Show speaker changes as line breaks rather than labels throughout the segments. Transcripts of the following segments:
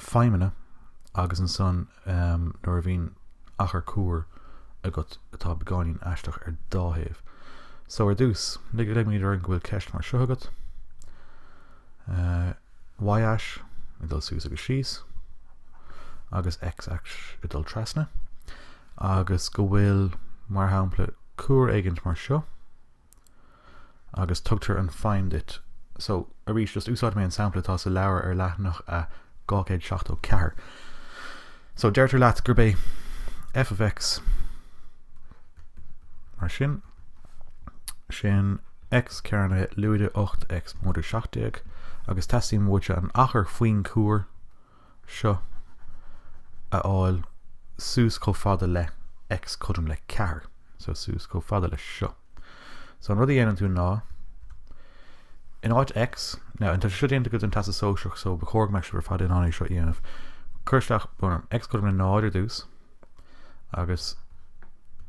feidhmeanna agus ansan nuair a bhíonn achar cuar agat atá beagáinín aisteach ar dá thaobh. So ar dtús, lig ligimid orainn go bhfuil ceist mar seo agat. Uh, y-ais ag dul suas agus síos agus x-ais ag dul trasna agus go bhfuil mar shampla cuar éigint mar seo agus tugtar an feidhm duit so arís just úsáidfidh mé an sampla atá sa leabhar ar leathanach a 274 so deirtear leat gurb é f of x mar sin sin x cearnaithe lúide 8 x móide 17 agus teastaíonn uaitse an achar faoin gcuar seo a fháil suas chomh fada le X cothrom le 4 so suas chomh fada le seo. So an rud a dhéanann tú ná in áit X, now tá sé seo déanta agaibh don Teastas Sóisearach so ba chóir go mbeadh sibh ar fad in ann é seo a dhéanamh, cuir isteach bhunfheidhm X cothrom le 0 ar dtús agus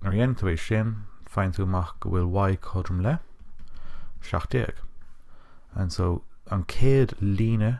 nuair a dhéanann tú é sin faigheann tú amach go bhfuil Y cothrom le 17 and so an chéad líne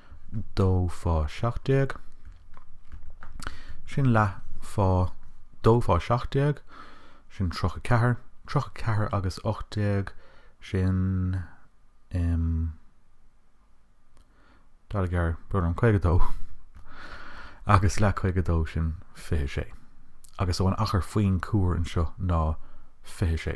dó fá seacht déag. Sin leath fá dó fá seacht déag, sin tríocha ceathair, tríocha ceathair agus ocht déag, sin um, daichead, brón orm, caoga dó agus leath caoga dó sin fiche sé. agus so an achar faoin cuar anseo ná fiche sé.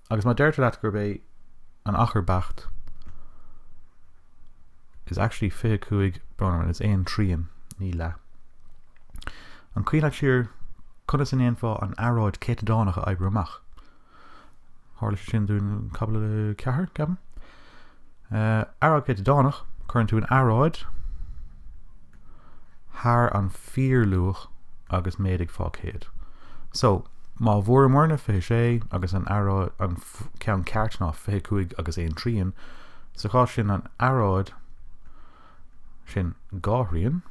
Agus má deirtear leat gurb é an achar beacht is actually 25 brón orm is aon trian ní leath. An cuimhin leat siar conas a ndéanfá an earráid céatadánach a oibriú amach? Tharla sé sin dúinn i gcaibidil a 4, ceapaim. Earráid céatadánach, cuireann tú an earráid thar an fíorluach agus méadaigh fá 100. So, má bhfuaireamarna 26 agus an earráid an ceann ceart ná 25 agus 1 trian, sa chás sin an earráid sin dhá thrian,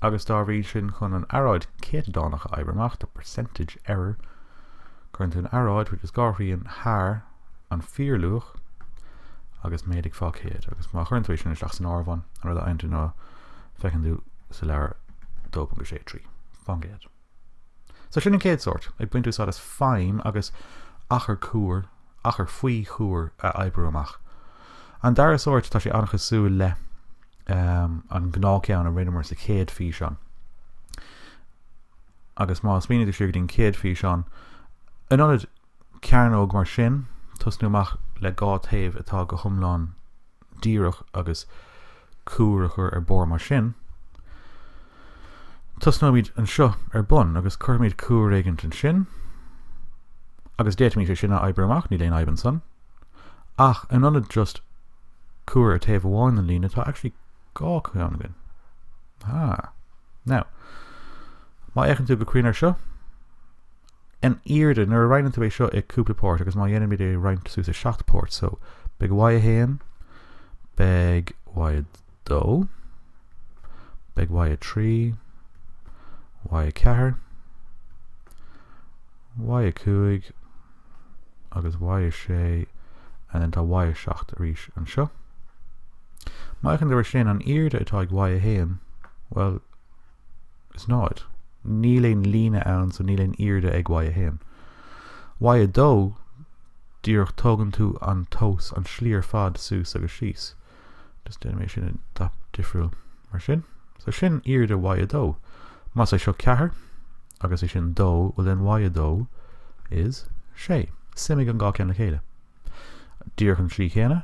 agus dá bhrí sin chun an earráid chéatadánach a oibriú amach, the percentage error, cuireann tú an earráid, which is dhá thrian, thar an fíorluach agus méadaigh fá 100, agus má chuireann tú é sin isteach san áireamhán, an rud a fhaigheann tú ná feiceann tú sa leabhar 2.63 fán gcéad. So sin an chéad sórt, ag baint úsáid as feidhm agus achar cuar, achar faoi chuar a oibriú amach. An dara sórt, tá sé an-chosúil le an gnáthcheann a rinneamar sa chéad físeán. Agus má smaoiníonn tú siar go dtí an chéad físeán, in ionad cearnóg mar sin, tosnú amach le dhá taobh atá go hiomlán díreach agus cuar a chur ar barr mar sin, tosnóimid anseo ar bun agus cuirfimid cuar éigint ansin agus d'fhéadfaimis é sin a oibriú amach, níl aon fhadhb ansan. Ach in ionad just cuar ar taobh amháin den líne tá actually dhá cheann againn. Ah. Now, má fhéachann tú go cruinn air seo, An aoirde, nuair a roinneann tú é seo i cúpla páirt agus má dhéanaimid é a roinnt suas i seacht páirt so beidh Y 1, beidh Y 2, beidh Y 3, Y 4, Y 5 agus Y 6 and then tá Y 7 arís anseo. Má fhéachann tú air sin an aoirde atá ag Y 1, well is 0. Níl aon líne ann so níl aon aoirde ag Y1. Y2, díreach tógann tú an tomhas an slí ar fad suas agus síos. Just déanfaidh mé sin i ndath difriúil mar sin. So sin aoirde Y2. Más é seo 4 agus é sin 2, well then Y2 is 6. Suimigh an dhá ceann le chéile. Díreach an slí chéanna.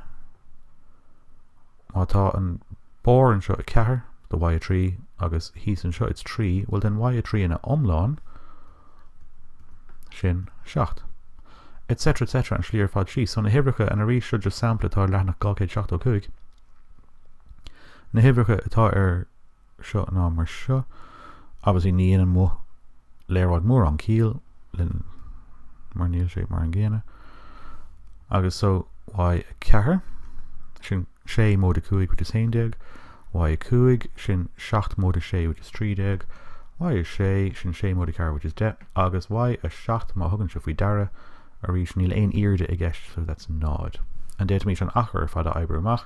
Má tá an barr anseo 4, de y3, agus thíos anseo it's 3, bhuel then y3 ina iomlán, sin 7. etc. etc. an slí ar fad síos. So na huimhreacha, and arís seo just sampla atá ar leathanach 275, na huimhreacha atá ar seo ná mar seo obviously ní dhéanann mo léaráid mórán ciall linn mar níl sé mar an gcéanna agus so y a ceathair sin sé móide a cúig which is haon déag y a cúig sin 7 móide a sé which is trí déag y a sé sin sé móide a ceathair which is deich agus y a 7 má thugann sibh faoi deara arís níl aon aoirde i gceist so that's náid and d'fhéadfaimis an achar ar fad a oibriú amach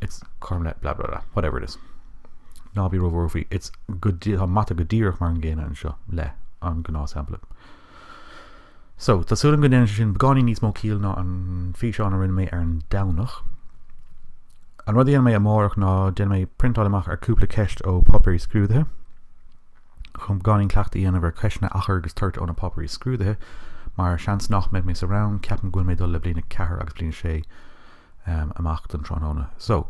It's cothrom le blah blah blah whatever it is Ná bí róbhuartha faoi It's go dí Tá mata go díreach mar an gcéanna anseo le an gnáthshampla So tá súil agam go ndéanann sé sin beagáinín níos mó ciall ná an físeán a rinne mé ar an Domhnach. An rud a dhéanfaidh mé amárach ná déanfaidh mé priontáil amach ar cúpla ceist ó páipéirí scrúdaithe chun beagáinín cleachtaidh a dhéanamh ar cheisteanna achar agus toirt ó na páipéirí scrúdaithe mar seans nach mbeidh mé sa rang ceapaim go bhfuil mé ag dul le bliain a ceathair agus bliain a sé amach don tráthnóna. So,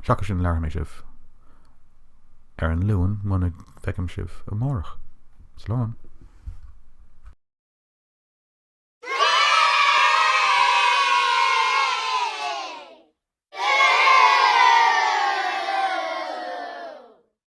seachas sin labhair mé sibh ar an Luan muna bhfeicim sibh amárach. Slán.